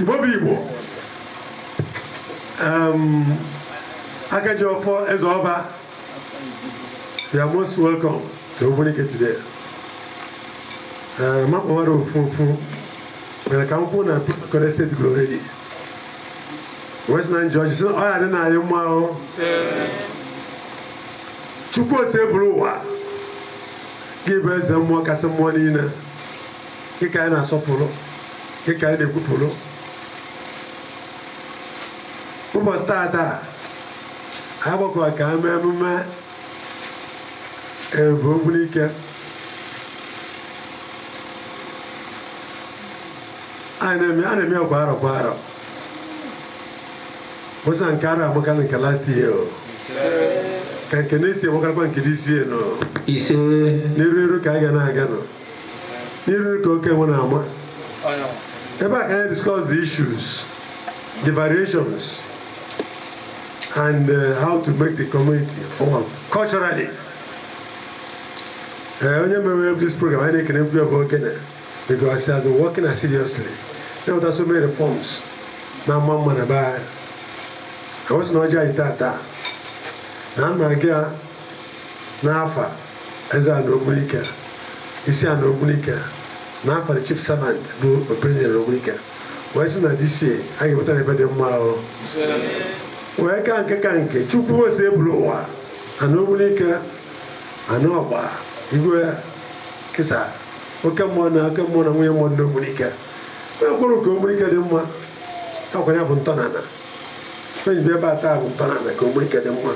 Igbo bụ Igbo Akaji Ọfọ Eze Ọba you are most welcome to Ogbunike today eh, makpọwara ofunfun mere ka m kwuo na Peter Kone steeti gụrụ redi West Nine George si ọ ya dị na anyị mma ahụ Chukwu Osebụlụwa gị bụ eze mmụọ kasị mmụọ niile gị ka anyị na-asọpụrụ gị ka anyị na-ekwupụrụ ụbọsị tata anyị gbakọrọ ka e mee mmemme ebu Ogbunike a na-eme ya kwa arọ kwa arọ a sị nke arọ a makalịa nke last year ka nke next year makalịakwa nke this year nọ ise n'iru iru ka a ga na-aga nọ n'iru ka oke nwe na-ama ebe a ka anyị discuss the issues the variations and uh, how to make the community form culturally eh, onye mere this program anyị na-ekene mkpu ebe okenye because he has been working seriously there were so many reforms na mma mma na be anyị ka ọ sị na ọjị anyị taa taa na nna gị a n'afa eze ana ogbunike isi ana ogbunike na afa the chief servant bụ president ogbunike wee sị na this year ga-eweta anyị ife dị mma o wee ka nke ka nke chukwu Osebụlụwa ana ogbunike ana ọgba igwe kịsa oke mmụọ na oke mmụọ na nwunye mmụọ ndị ogbunike wee kwuru ka ogbunike dị mma ọkwa anyị bụ ntọnana onye bi ebe a taa bụ ntọnana ka Ogbunike dị mma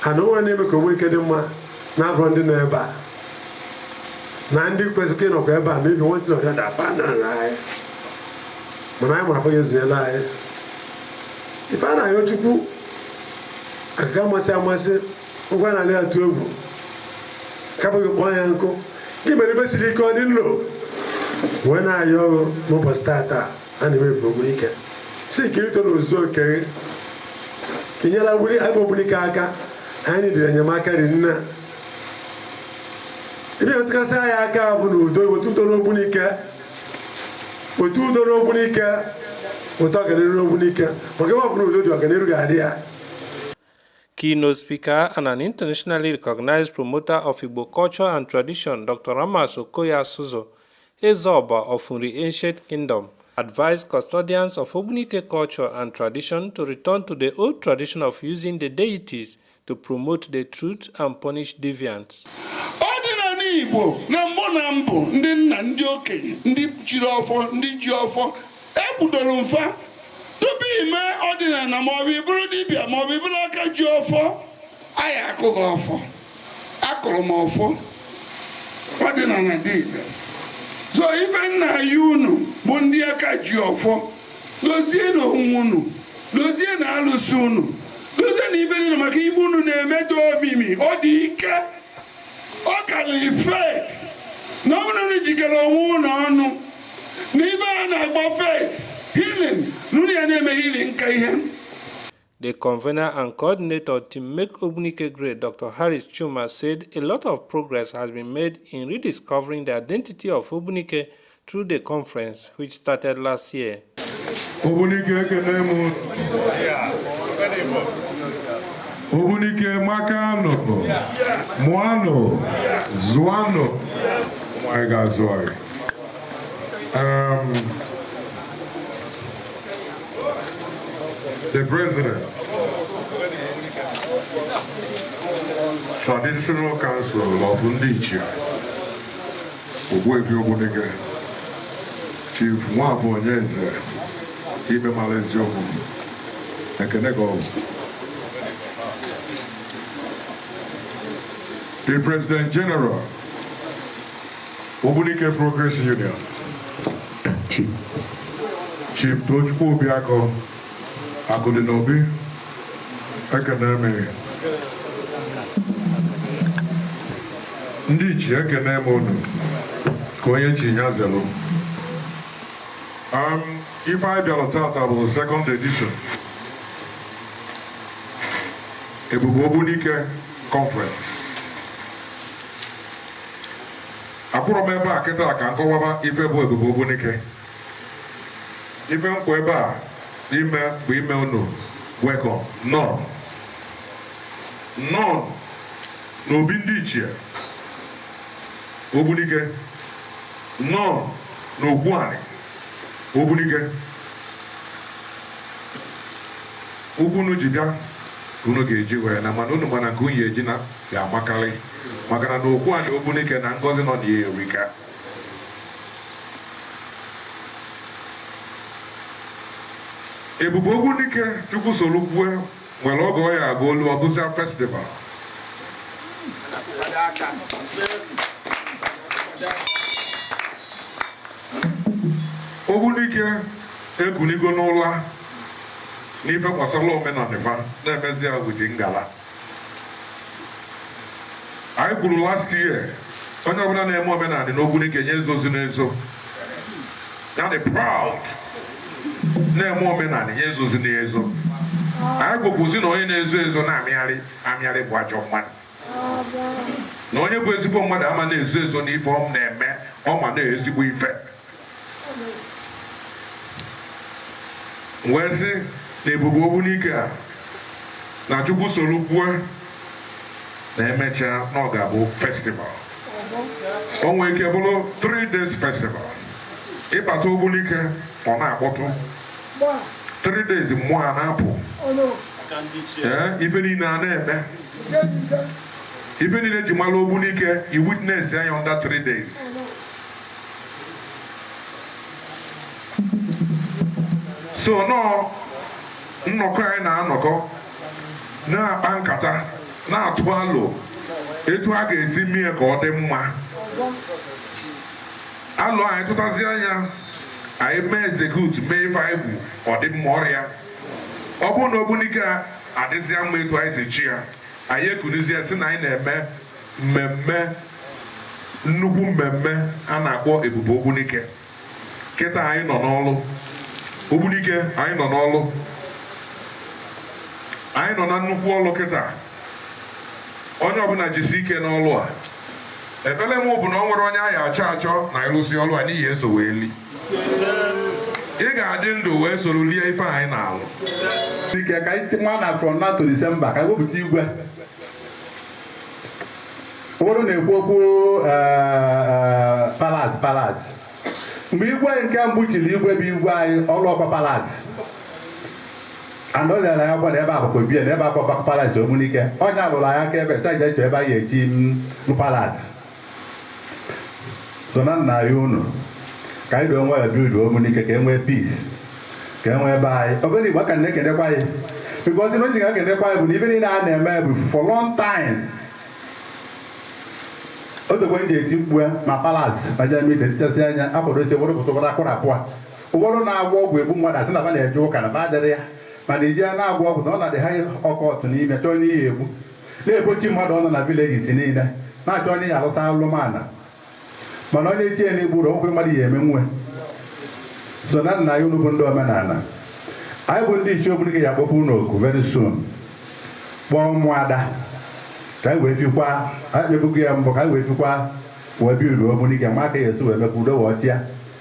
ha na onwe na-eme ka Ogbunike dị mma na-abụ ndị nọ ebe a na ndị kwesịrị ịnọkwa ebe a maybe nwantị ọrịa daba n'ala anyị mana anyị mara afọghị ezunyela anyị ife a na-ayọ chukwu ọkaka amasị amasị ugwu a na-alị atụ egwu kapụghị kpọọ ya nkụ gị mere ife siri ike ọ dị nlo wee na-ayọ n'ụbọsị tata a na-eme ebu Ogbunike sị ka ito n'ozu oke gị ka i nyelu ebe Ogbunike aka anyị dịrị enyemaka dị nna ife metụkasị anyị aka bụ na udo wete udo n'ogbunike wete udo n'ogbunike wete ọganiru n'ogbunike maka ebe ọ bụla udo dị ọganiru ga-adị ya Keynote speaker and an internationally recognized promoter of Igbo culture and tradition, Dr. Ramas Okoye Asuzu, Ezeoba of Nri Ancient Kingdom, advised custodians of Ogbunike culture and tradition to return to the old tradition of using the deities to promote the truth and punish deviants. Igbo na mbụ na mbụ ndị nna ndị okenye ndị jiri ọfọ ndị ji ọfọ ekwudoro mfa tupu ime ọdịnala maọbụ ịbụrụ dibịa maọbụ ịbụrụ aka ji ọfọ anyị akụọ gị ọfọ a kụrụ m ọfọ ọdịnala dị ire so ife nna anyị unu bụ ndị aka ji ọfọ dozienụ onwe unu dozienụ alụsị unu dozienụ ife niile maka ife unu na-eme dị omimi ọ dị ike ọ karịrị faith na ọ bụrụ na jikọrọ onwe unu ọnụ na ife a na-akpọ faith healing na unu ya na-eme healing nka ihe The convener and coordinator Team Make Ogbunike Great, Dr. Harris Chuma, said a lot of progress has been made in rediscovering the identity of Ogbunike through the conference which started last year. Ogbunike ekele m Ogbunike makanụ mụanụ zụanụ anyị ga-azụ anyị the president traditional council of ndị Ogbuefi Ogbunike Chief Nwafọ Onyeze Ibe mara eziokwu ekene gị o the President General Ogbunike Progress Union Chief Tochukwu Obiakọ Akụdị n'obi ekene m gị ndị ichie ekene m unu nke onye chi nya zelụ um, ife anyị bịara tata bụ second edition Ebube Ogbunike conference akwụrọ m ebe a kịta ka m kọwaba ife bụ Ebube Ogbunike ife m kwụ ebe a ime bụ ime unu welcome nnọọnụ n'obi ndị ichie Ogbunike nnọọnụ n'okwu anị Ogbunike ụkwụ unu ji bịa unu ga-eji wee naa mana unu ma na nke unu ya-eji naa ga-amakarị maka na n'okwu anị Ogbunike na ngọzi nọ na ya erika ebube ogbunike chukwu soro kwue nwere oge ọ ya aga olu ọ bụzia festival ogbunike ekunigo n'ụla n'ife gbasara omenala na-emezi ya wee ji ngala anyị kwuru last year onye ọbụla na-eme omenala n'ogbunike nya ezozina ezo ya dị proud na-eme omenala nya ezozina ezo anyị kwukwuzi na onye na-ezo ezo na-amịgharị amịgharị bụ ajọ mmadụ na onye bụ ezigbo mmadụ ama na-ezo ezo n'ife ọ na-eme ọ ma na ezigbo ife wee sị na ebube ogbunike a na chukwu soro kwue na emechaa na ọ ga-abụ festival o nwee ike bụrụ 3 days festival ị bata ogbunike ọ na-akpọtụ 3 days mmụọ a na-apụ ife niile a na-eme ife niile ji mara ogbunike i witness ya under 3 days so nọọ nnọkọ anyị na-anọkọ na-akpa nkata na-atụ alo etu a ga-esi mee ka ọ dị mma alo anyị tụtazi anya anyị mee execute mee ife anyị bụ ọdịmma ọra ọ bụrụ na ogbunike adịzịa mma etu anyị si chee ya anyị ekunizie sị na anyị na-eme mmemme nnukwu mmemme a na-akpọ ebube ogbunike kịta anyị nọ n'ọlụ ogbunike anyị nọ n'ọlụ anyị nọ na nnukwu ọlụ kịta onye ọbụla jisi ike n'ọlụ a ekpere m bụ na o nwerọ onye anyị achọ achọ na ị lụsịa ọlụ a na ị ya-eso wee li ị ga-adị ndụ wee soro lie ife anyị na-alụ ike ka anyị nwa na from now to December ka anyị wepụta igwe ụfọdụ na-ekwu okwu palace palace mgbe igwe nke mbụ chiri igwe bụ igwe anyị ọ rụrọkwa palace and lere ya gwara ebe a bụkwa obi ya na ebe a bụkwa palace ogbunike onye alụrụ ya aka ebe saja eche ebe anyị echi palace so na nna anyị unu ka anyị doo nwa ya obodo ogbunike ka e nwee peace ka e nwee ebe anyị obodo igbo ka na-ekenekwa ya because ife m ji ga-ekenekwa ya bụ na ife niile a na-eme bụ for long time otokwe ndị eti mkpu ya ma palace ma jemit etichasị anya akwadosi ụfọdụ pụta ụfọdụ akwụrụ apụa ụfọdụ na-agwọ ọgwụ egbu mmadụ asị na ba na-eje ụka na ba adịrị ya mana iji ya na-agwọ ọgwụ na ọ na-adị ha ọkọtụ n'ime church n'ihi egbu na-egbochi mmadụ ọnụ na villages niine na-achọ onye ya alụsa alụmana mana onye chie na igburu okwe mmadụ ya eme nwe so na nna ya unu bụ ndị omenana anyị bụ ndị ichie ogbunike ya akpọku unu oku very soon kpọọ ụmụada ka anyị wee fikwa anyị ebugo ya mbụ ka anyị wee fikwa wee bi uru ogbunike ma aka ya esi wee mee ka udo wee chịa